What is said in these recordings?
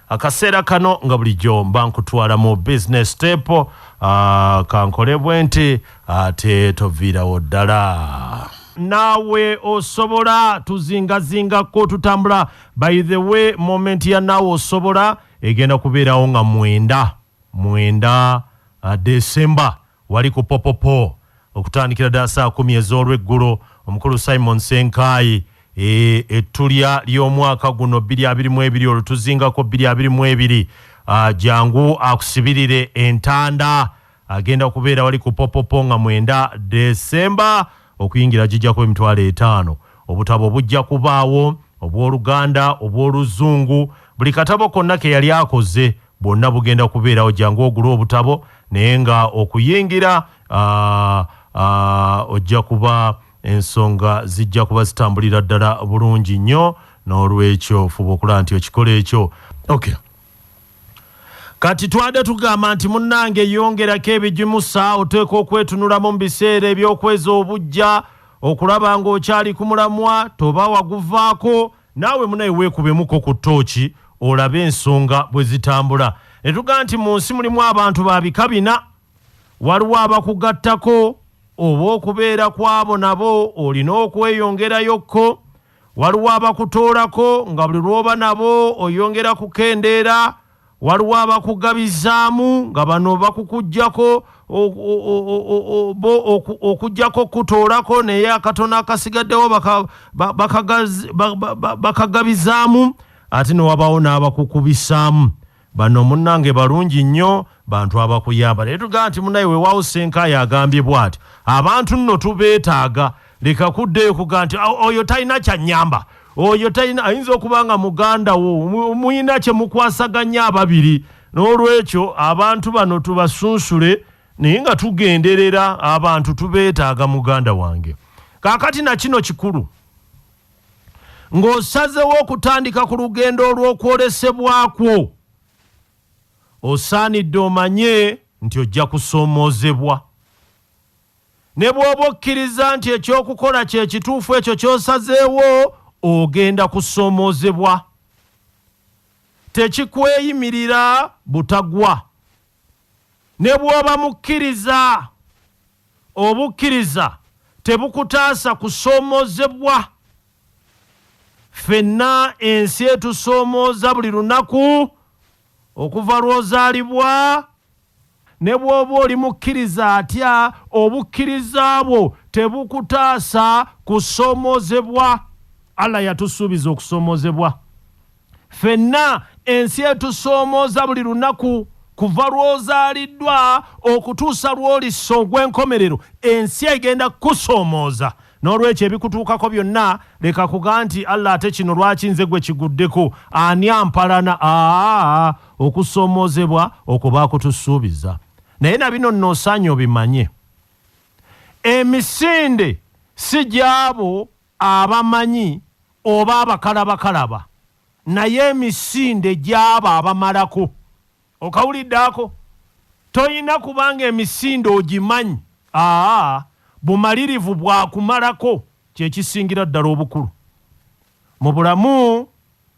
akaseera kano nga bulijjo mba nkutwala mu business step uh, kankolebwe nti ate uh, toviirawo ddala naawe osobola tuzingazingako tutambula by the way moment ya naawe osobola egenda kubeerawo nga mwenda mwenda uh, december Wali ku popopo okutandikira ddala saa kumi ez'olweggulo omukulu Simon Senkaayi e, ettulya ly'omwaka guno bbiri abiri mu ebiri olwo tuzingako bbiri abiri mu ebiri ah, jangu akusibirire entanda agenda kubeera wali ku popopo nga mwenda desemba okuyingira gijja kuba emitwalo etaano obutabo bujja kubaawo obw'oluganda obw'oluzungu buli katabo konna ke yali akoze bwonna bugenda kubeerawo jangu ogule obutabo naye nga okuyingira ojja kuba ensonga zijja kuba zitambulira ddala bulungi nnyo n'olwekyo fuba okulaba nti okikola ekyo okay kati twade tugamba nti munnange yongerako ebigimusa oteeka okwetunulamu mu biseera ebyokwezi obujja okulaba ng'okyali ku mulamwa toba waguvaako Naawe munaye weekubemuko ku ttooki olabe ensonga bwe zitambula. Ne tugamba nti mu nsi mulimu abantu ba bika bina. Waliwo abakugattako oba okubeera kw'abo nabo olina okweyongerayo ko. Waliwo abakutoolako nga buli lw'oba nabo oyongera kukendeera waliwo abakugabizaamu nga bano bakukujjako bo okujjako okukutoolako naye akatono akasigaddewo bakagabizaamu ate newabawo n'abakukubisaamu bano munnange balungi nnyo bantu abakuyamba naye tugamba nti munaye wewawo senkaayo agambye bwati abantu nno tubeetaaga leka kuddeyo kuga nti oyo talina kyanyamba oyo talina ayinza okuba nga muganda wo muyina kyemukwasaganya ababiri n'olwekyo abantu bano tubasunsule naye nga tugenderera abantu tubeetaaga muganda wange kaakati na kino kikulu ng'osazewo okutandika ku lugendo olw'okwolesebwakwo osaanidde omanye nti ojja kusoomoozebwa Ne bw'oba okkiriza nti eky'okukola kye kituufu ekyo ky'osazeewo, ogenda kusoomoozebwa. Tekikweyimirira butagwa. Ne bw'oba mukkiriza, obukkiriza tebukutaasa kusoomoozebwa. Ffenna ensi etusoomooza buli lunaku, okuva lw'ozaalibwa Ne bw'oba oli mukkiriza atya, obukkiriza bwo tebukutaasa kusoomoozebwa. Allah yatusuubiza okusoomoozebwa. Ffenna ensi etusoomooza buli lunaku. Kuva lw'ozaaliddwa okutuusa lw'olissa ogw'enkomerero, ensi egenda kukusoomooza. N'olwekyo ebikutuukako byonna leka kuga nti Allah ate kino lwaki nze gwe kiguddeko ani ampalana aa okusoomoozebwa okwo baakutusuubiza naye na bino nno osaanye obimanye emisinde si gy'abo abamanyi oba abakalabakalaba naye emisinde gy'abo abamalako Okawulidde ako? Tolina kubanga emisinde ogimanyi. Aa, bumalirivu bwa kumalako kye kisingira ddala obukulu. Mu bulamu,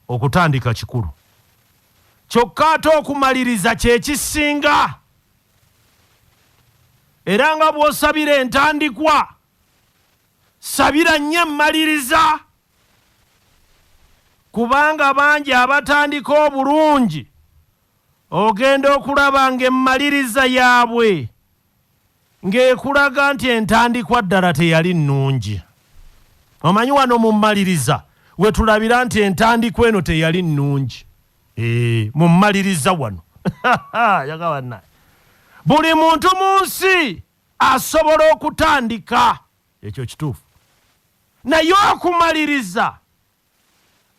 okutandika kikulu. Kyokka ate okumaliriza kye kisinga. Era nga bw'osabira entandikwa, sabira nnyo emmaliriza. kubanga bangi abatandika obulungi ogenda okulaba ng'emmaliriza yaabwe ng'ekulaga nti entandikwa ddala teyali nnungi omanyi wano mu mmaliriza we tulabira nti entandikwa eno teyali nnungi eh, mu mmaliriza wano yagabanna buli muntu mu nsi asobola okutandika Ekyo kituufu. Naye okumaliriza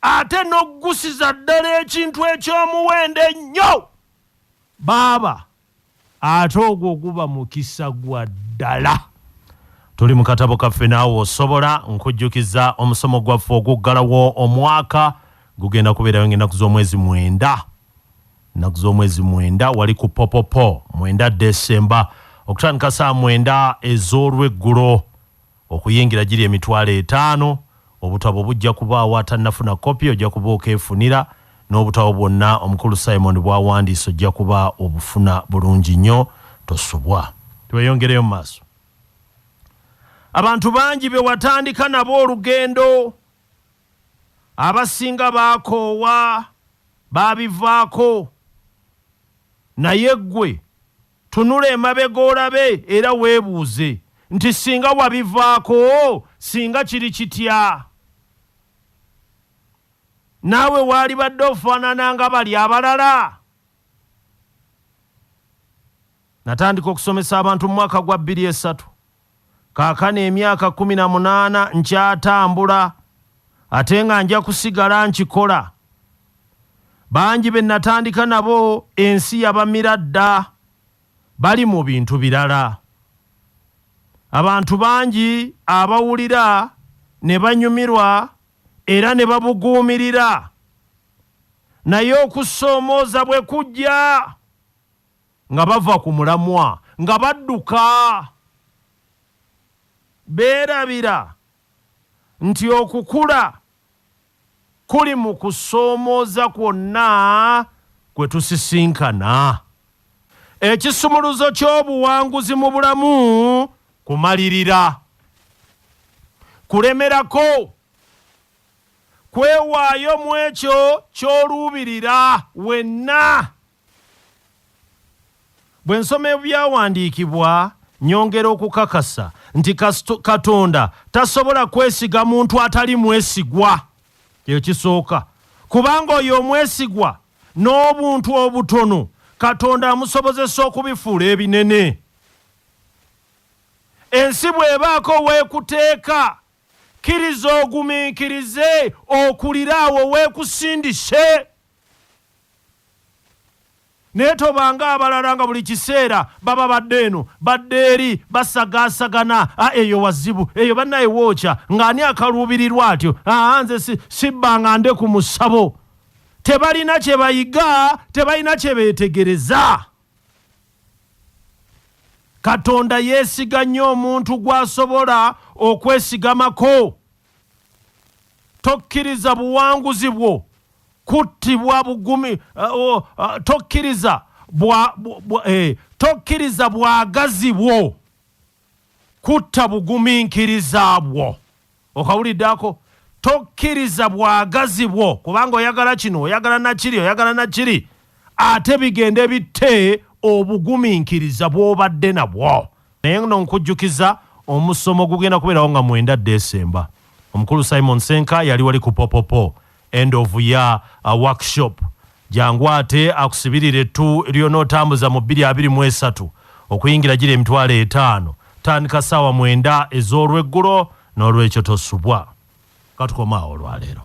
ate n'okuggusiza ddala ekintu eky'omuwendo ennyo, baaba, ate ogwo guba mukisa gwa ddala. Tuli mu katabo kaffe naawe osobola nkujjukiza omusomo gwaffe oguggalawo omwaka gugenda kubeerayo ng'ennaku z'omwezi mwenda. Ennaku z'omwezi mwenda wali ku Popopo mwenda Ddesemba okutandika saa mwenda ez'olweggulo okuyingira giri emitwalo etaano. Obutabo bujja kubaawo atannafuna kkopi ojja kuba okeefunira n'obutabo bwonna Omukulu Simon bw'awandiise ojja kuba obufuna bulungi nnyo tosubwa. Tweyongereyo mu maaso. Abantu bangi be watandika nabo olugendo. abasinga baakoowa baabivaako naye ggwe tunula emabega olabe era weebuuze nti singa wabivaako singa kiri kitya? Naawe waalibadde ofaanana nga bali abalala? Natandika okusomesa abantu mu mwaka gwa bbiri esatu. Kaakano emyaka kkumi na munaana nkyatambula ate nga nja kusigala nkikola. Bangi be natandika nabo ensi yabamira dda, bali mu bintu birala. Abantu bangi abawulira ne banyumirwa era ne babuguumirira. Naye okusoomooza bwe kujja, Nga bava ku mulamwa nga badduka, beerabira nti okukula kuli mu kusoomooza kwonna kwe tusisinkana. Ekisumuluzo ky'obuwanguzi mu bulamu kumalirira, kulemerako, kwewaayo mu ekyo ky'oluubirira wenna Bwe nsoma Ebyawandiikibwa, nnyongera okukakasa nti Katonda tasobola kwesiga muntu atali mwesigwa. Ekyo kisooka. Kubanga oyo omwesigwa, n'obuntu obutono Katonda amusobozesa okubifuula ebinene. Ensi bw'ebaako w'ekuteeka, kkiriza ogumiikirize okulire awo w'ekusindise. naye tobanga abalala nga buli kiseera baba badde eno badde eri basagaasagana a eyo wazibu eyo bannaye wookya ng'ani akaluubirirwa atyo aa nze sibbanga nde ku musabo tebalina kye bayiga tebalina kye beetegereza katonda yeesiga nnyo omuntu gw'asobola okwesigamako Tokkiriza buwanguzi bwo kuttibwa bugumi, uh, uh, tokkiriza bwa, bwa, bwa, eh, tokkiriza bwagazi bwo kutta bugumiikiriza bwo okawuliddeko tokkiriza bwagazi bwo kubanga oyagala kino oyagala nakiri oyagala nakiri ate bigende bitte obugumiikiriza bwobadde nabwo naye no nkujjukiza omusomo gugenda kubeerawo nga mwenda desemba omukulu simon senka yali wali ku popopo end of ya uh, workshop jangu ate akusibirire ettu lyonootambuza mu bbiri abiri mu esatu okuyingira gira emitwalo etaano tandika saawa mwenda ez'olweggulo n'olwekyo tosubwa katukomaawo olwaleero